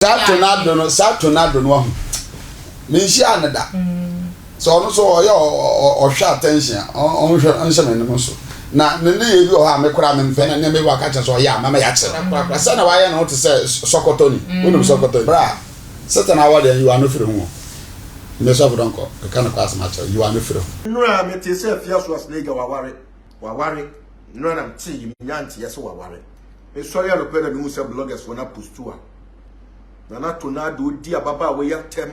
Saa tornado no, saa tornado no ahu. Me nhyia no da. So ɔno so ɔyɛ ɔhwɛ attention a, ɔnhwɛ ɔnhyɛ me no so. Na ne ne yɛ bi wɔ hɔ a me koraa me mfɛ na ne me waka kyɛ so ɔyɛ a mama yɛakyerɛ no korakora. Sɛ na wayɛ no te sɛ sɔkɔtɔ ni. Wonim sɔkɔtɔ ni. Bra, Satan awɔ deɛ you are no firi ho o. Me sɔfo dɔnkɔ, meka no kora asɛm akyerɛ wo, you are no firi ho. Nnura a mete sɛ fiasua snake waware. waware nora na mtee yi menya nteɛ sɛ waware mesɔre anɔpɛ na mehu sɛ bloggers wɔn apostu a nana tonado di ababaa wɔyɛ atɛm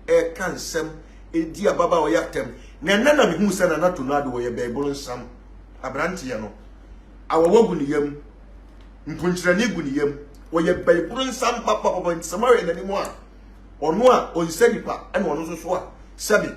ɛka nsɛm ɛdi ababaa wɔyɛ atɛm na ɛnɛ na mehu sɛ nana tonado wɔyɛ bɛɛboro nsam aberanteɛ no awɔwɔ gu ne yam mpunkyerɛne gu ne yam wɔyɛ bɛɛboro nsam papapapa nti sɛ moayɛ n'anim a ɔno a ɔnsɛ nipa ɛna ɔno nso so a sɛbe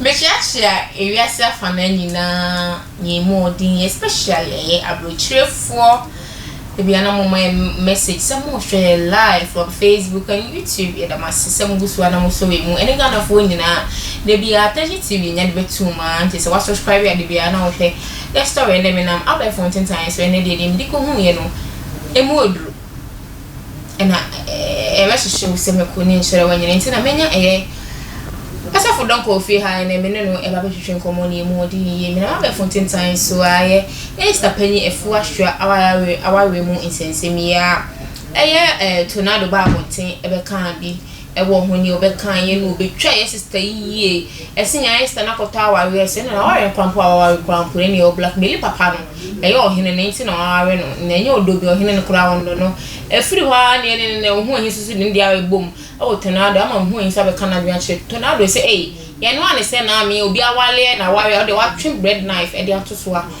Mesuasua ewiase afanaa nyinaa yɛn mu ɔden especially ɛyɛ abrɛkyirɛfoɔ ebi a na mo ma yɛn message sɛ mo hwɛ yɛn live on Facebook and YouTube yɛda mo ase sɛ mo gu so a na mo sɔ yɛn mu ɛne Ghanafoɔ nyinaa da bi a Tɛhye TV nya de bɛtu mu a nti sɛ wa subscribe a da bi a na wohwɛ yɛ story ɛnɛ menam abɛɛfo ntentan so ɛnɛ deɛ deɛ mede kɔhu yɛ no ɛmu oduru. na yɛbɛhyehyɛ Owusemeku ne nkyerɛwee nyinaa. Nti na manya ɛyɛ asɔfo dɔm kɔɔ fie ha na me ne no ɛba bɛtwetwe nkɔmmɔ na yɛmu ɔden yie. Menam abɛɛfo ntentan so ara yɛ Minista Panyin Afua Hwera awareɛ mu nsɛnsɛm yi ara. Ɛyɛ Tornado baa abɔnten bɛkaa bi. Ɛwɔ ho nea ɔbɛka yɛ no ɔbɛtwa yɛ sister yi yie ɛse nea ayɛ sister no akɔtɔ awareɛ ɛsɛ no na waware koraa mpo a waware koraa mpo ɛne ɔwɔ black meli papa no ɛyɛ ɔhene no nti na waware no na ɛnyɛ ɔdɔ bi ɔhene no koraa ɔnnɔ no ɛfiri hɔ ara na ɛne no na ɔho ahisu so de ne deɛ ara ɛbom ɛwɔ tornado ama ɔho ahisu abɛka no adwene akyerɛ tornado ɛsɛ ɛyi yɛnoa ne sɛ naa me obi awaleɛ na waware a ɔde watwe bread knife ɛde ato so a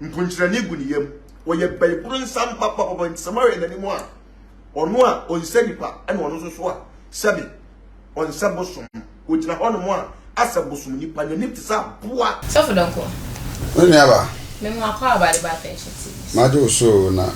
Mponkyerɛne gu ne yam. Ɔyɛ bɛboro nsam papapapa nti sɛ moahwɛ n'anim a, ɔno a ɔnsɛ nipa ɛna ɔno nso so a sɛbe ɔnsɛ bosom. Ɔgyina hɔnom a asɛ bosom nipa, n'anim te sɛ aboa. Sɔfo Donkor. Me nuaba. Me nwa kwaaba de ba attention to this. Magye wo so o na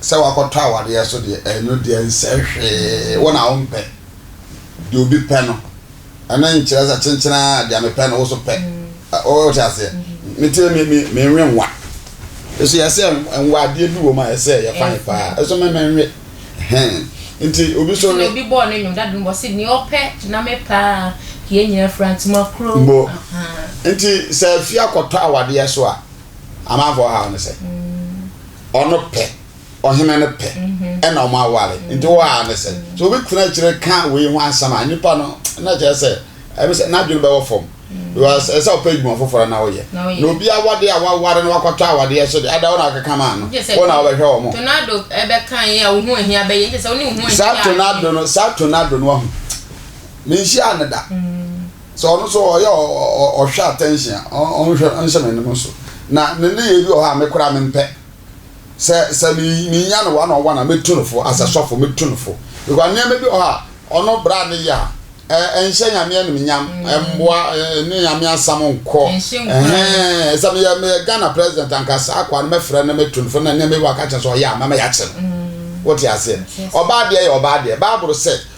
Sɛ woakɔtɔ awadeɛ so deɛ, ɛno deɛ nsɛ hwee, wo na wompɛ. Deɛ obi pɛ no, ɛno nkyerɛ sɛ kyenkyenn ara deɛ mepɛ no wo nso pɛ. Wote aseɛ? Me tiri me, me, menwe nwa. Nso yɛsɛ nwa, adeɛ bi wɔ mu a ɛsɛ yɛ fan paa. Nso me, menwe. Hɛn. Nti obi nso we. Nti na obi bɔɔ ne nnwom, dade no bɔ, ɔse, Deɛ ɔpɛ na me pɛ a, yɛn nyinaa fira ntoma koro. Mbo. Nti sɛ afie akɔtɔ awadeɛ so a, Amanfoɔ haw no sɛ ɔno pɛ ɔhene no pɛ ɛna ɔmo aware nti wɔ haw no sɛ sɛ obi tena akyire ka wei ho asɛm a nipa no na kyerɛ sɛ ɛbi sɛ n'adwene bɛwɔ fam because ɛsɛ ɔpɛ adwuma foforɔ na ɔyɛ na obi awade a waware no wakɔtɔ awadeɛ so de ada wɔn a wɔkeka maa no wɔn a wɔbɛhwɛ wɔn. Tornado ɛbɛka yɛ a wo ho ahia bɛyɛ nkyɛ sɛ wo ne wo ho ahia. Saa tornado no saa tornado no ahu menhyia ne da. Sɛ ɔno nso ɔyɛ ɔhwɛ attention a, ɔnhwɛ nhyɛ m'anim so. Na ne nneyɛe bi wɔ hɔ a me koraa mempɛ. Sɛ sɛ menya no one on one a, mɛtu no fo as a sɔfo, mɛtu no fo. Because nneɛma bi wɔ hɔ a ɔno bra a ne yɛ a, ɛnhyɛ Nyame animuonyam, ɛmmoa, ɛne Nyame asɛm nkɔ. Ɛhɛn, sɛ meyɛ meyɛ Ghana president anka saa akoa no mɛfrɛ no mɛtu no fo na nneɛma bi wɔ hɔ a ka kyerɛ sɛ ɔyɛ a mɛma yɛakyɛ no. Wote aseɛ? Ɔbaa deɛ yɛ ɔbaa deɛ. Bible sɛ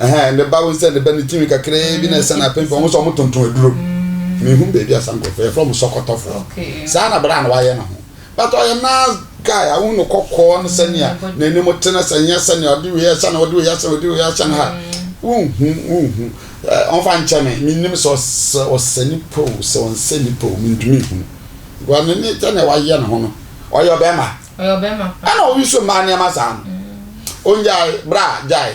Ɛhɛn, ne ba osian ne ba ne tsir kakraa bi na esian apemfo ho sɛ wɔtonton aduro. Mehu baabi a saa nkorɔfo yɛfrɛ wɔn sɔkɔtɔfoɔ. Saa na bra no wayɛ ne ho. But ɔyɛ nice guy a wohu no kɔkɔɔ ne sɛnea n'anim te na sɛ nyɛ sɛnea ɔde wei ahyɛ no ɔde wei ahyɛ no ɔde wei ahyɛ no ha wonhu wonhu eh, ɔmfa nkyɛ me menim sɛ ɔsɛ ɔsɛ nipa o sɛ ɔnsɛ nipa o mentumi nhunu because ne ne sɛnea wayɛ ne ho no ɔyɛ ɔbɛrima ɛna obi so mmaa nneɛma saa no ongyae bra gyae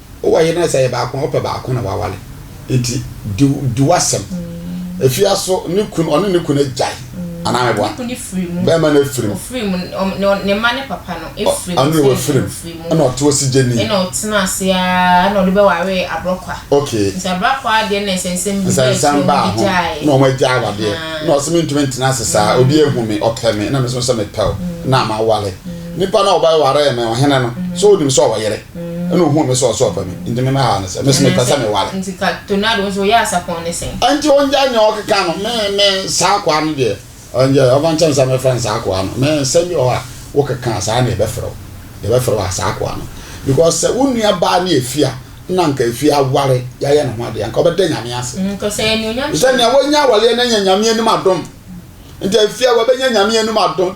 Wo wɔ yere no a, sɛ ɛyɛ baako a, wopɛ baako na woaware. Enti di di w'asɛm. Efi aso ne kunu ɔne ne kunu agyae anaa meboa. Ne kunu firi mu. Bɛrima no afiri mu. Ɔfiri mu ɔm ne ne mma ne papa no afiri mu. Ɔ ɔno deɛ wafiri mu. Ɔfiri mu. Ɛna ɔte osigyeni. Ɛna ɔtena ase ara ɛna ɔde bɛware abrɔkwa. Okay. Nti abrɔkwa deɛ na nsɛnsɛm bi baa akyire na ɔmo gyaeɛ. Na ɔmo agyae awadeɛ. Ahaa. Na ɔse mentumi ntena ase saa obi ahu me ɔpɛ me na me nso sɛ mepɛ wo na maware. Nipa no a ɔbɛwaree me ɔhene no so onim sɛ ɔwɔ yere? ɛna ohun mi sɛ ɔsɛ ɔpɛ mi nti mi mɛhaw ne sɛ mesi mi pɛ sɛ mi ware. nti ka tonado nso oyɛ asapɔn ne sɛn. nti ɔngya nea ɔkeka no me me saa akoa no deɛ ɔngya ɔfa nkyɛn sɛ mɛfrɛ no saa akoa no me nsɛm bi wɔ hɔ a wokeka saa na yɛbɛfrɛ wo yɛbɛfrɛ wo saa akoa no because sɛ wo nua baa ne efie a na nka efie aware yɛayɛ ne ho adeɛ anka ɔbɛda nyame ase mm, sɛ nea wonya awaleɛ no anya nyame anim adom nti efie a wɔbɛnya nyame anim adom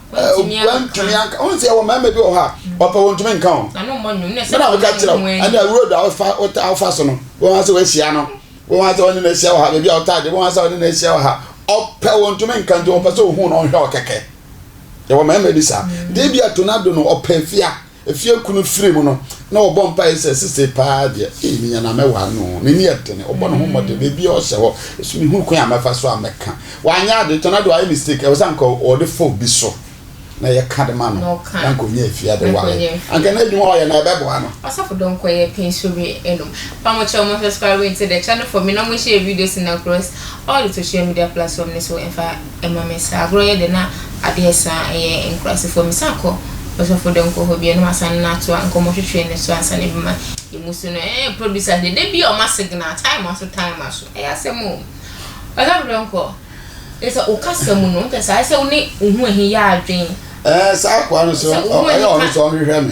wantumi anka wọn sɛ ɛwɔ mmarima bi wɔ hɔ a ɔpɛ wɔn ntumi nka wɔn bɛna wɔka kyerɛ wo ɛne road a wofa so no wɔn asɛ wɔahyia no wɔn asɛ wɔne no ahyia wɔ ha baabi a wɔtaa de wɔn asɛ wɔne no ahyia wɔ ha ɔpɛ wɔn ntumi nka nti wɔpɛ sɛ ohun na ɔhwɛ ɔkɛkɛ ɛwɔ mmarima bi saa deɛ bi a tornado no ɔpɛ fia Efie kunu firi mu no na ɔbɔ mpaeɛ sɛ sesei paa deɛ ee menya na mɛware no oo n'ani yɛ dene ɔbɔ ne ho mmɔden baabi a ɔhyɛ hɔ nso mehunu kwan a mɛfa so a mɛka wanyɛ ade kyɛ na deɛ wayɛ mistake ɛwɔ sɛ anka ɔde fo bi so na yɛka de ma no na anka ɔnya afie ade ware anka na adwuma ɔyɛ na ɛbɛboa no. Ɔsɔfo dɔ nkɔ yɛ pɛn so re ɛnom pa mo kyɛw mo subscribe nti the channel for me na mo share videos and across all the social media platform ne so ɛnfa. Ɛma me saa agorɔ yɛ dɛ na adeɛ saa ɛyɛ nkurasefoɔ me san kɔ ɔsɔfo dɛ nkɔ hɔ bio na wasan no atoa nkɔmɔ hwehwɛ no so ansa na ebi ma emu so no ɛɛ producer deɛ da bia ɔma signal time aso time aso ɛyɛ asɛm o ɔsɔfo dɛ nkɔ kyɛ sɛ okasa mu no kyɛ sɛ ayɛ sɛ wo ne wo ho ahi yɛ adwen ɛɛ saa akoa no so ɛyɛ ɔno so ɔnhwehwɛ me.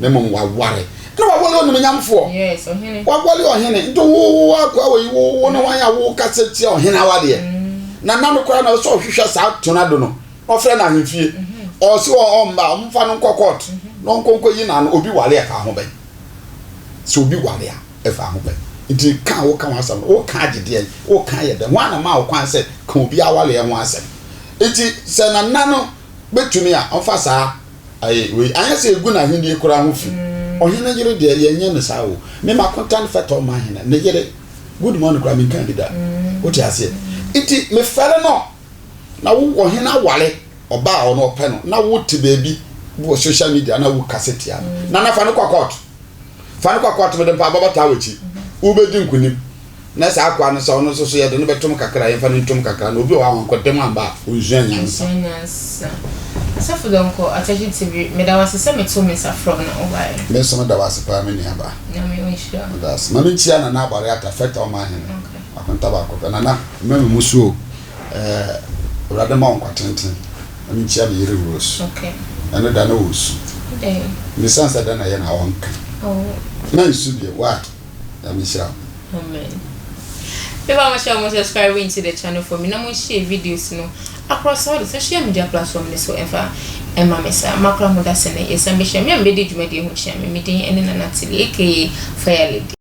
na mmom waware na wawale onimunyamfoɔ wawale ɔhene nti wowo akoa wɔ yi wowo ne wɔn a wokasa tia ɔhene awadeɛ mm. na nano koraa na ɔsɛ ɔhwehwɛ saa tornado no ɔfrɛ no ahemfie mm-hmm. ɔse ɔmba ɔmfa no nkɔ court mm-hmm. na ɔnkɔnkɔ yi nano obi wale ɛfa ho bɛn sɛ obi wale a ɛfa ho bɛn nti ka a woka ho asɛm no woka agyedeɛ woka yɛ dɛn ho anama wo kwan sɛ ka obi awaleɛ ho asɛm nti sɛ nana no bɛtumi a, ɔmfa saa ayɛ wei. Anyɛ sɛ ɛgu n'ahennie koraa ho fi. Ɔhene yere deɛ, yɛnyɛ no saa o. Me m'akontan fɛtɔ ma hene, ne yere. Good morning koraa menkaa bi da. Wote aseɛ? Nti mefɛre no, na wo ɔhene aware ɔbaa a ɔno ɔpɛ no, na wote baabi wɔ social media na wokasa tia no. Nana fa no kɔ kɔɔto. Fa no kɔ akoa to mede mpaebɔ bɛtaa w'akyi. Wobɛdi nkonim. Na saa akoa no sɛ ɔno nso so yɛde no bɛtom kakra a, yɛmfa no ntom kakra. Na obi wɔ hɔ a wankɔ dɛm amba a, ɔnsua nyansa. Ɔnsua nyansa. Asafo Donkor, Atakye TV, meda wo ase sɛ metoo me nsa frɛɛ wo na wobaeɛ. Me nso meda wo ase paa me nuabaa. Nyame ɔnhyira wo. Meda wo ase. Ma menkyia Nana Abare Atta, Fɛta Ɔman Hene. Okay. Akonta baako pɛ. Nana, mma me mmusu o. Ɛɛ Awurade mma wo nkwa tenten. Ma minkyia me yere Rose. Ɛno da na ɔresu. Mmisaa sɛ dɛn na ɛyɛ na ɔnka. Na nsu bio. Why? Nyame nhyira wo. Amen Me ba mo hyɛ mo subscribe into the channel for me na mo nhyɛ videos no akora saa ɔde social media platform no so ɛmfa ɛma me saa makora mo dasene yɛsan bɛhyia me a mebɛdi dwumadie ho kyea me me din ɛne Nana Tilly aka Fire Lady.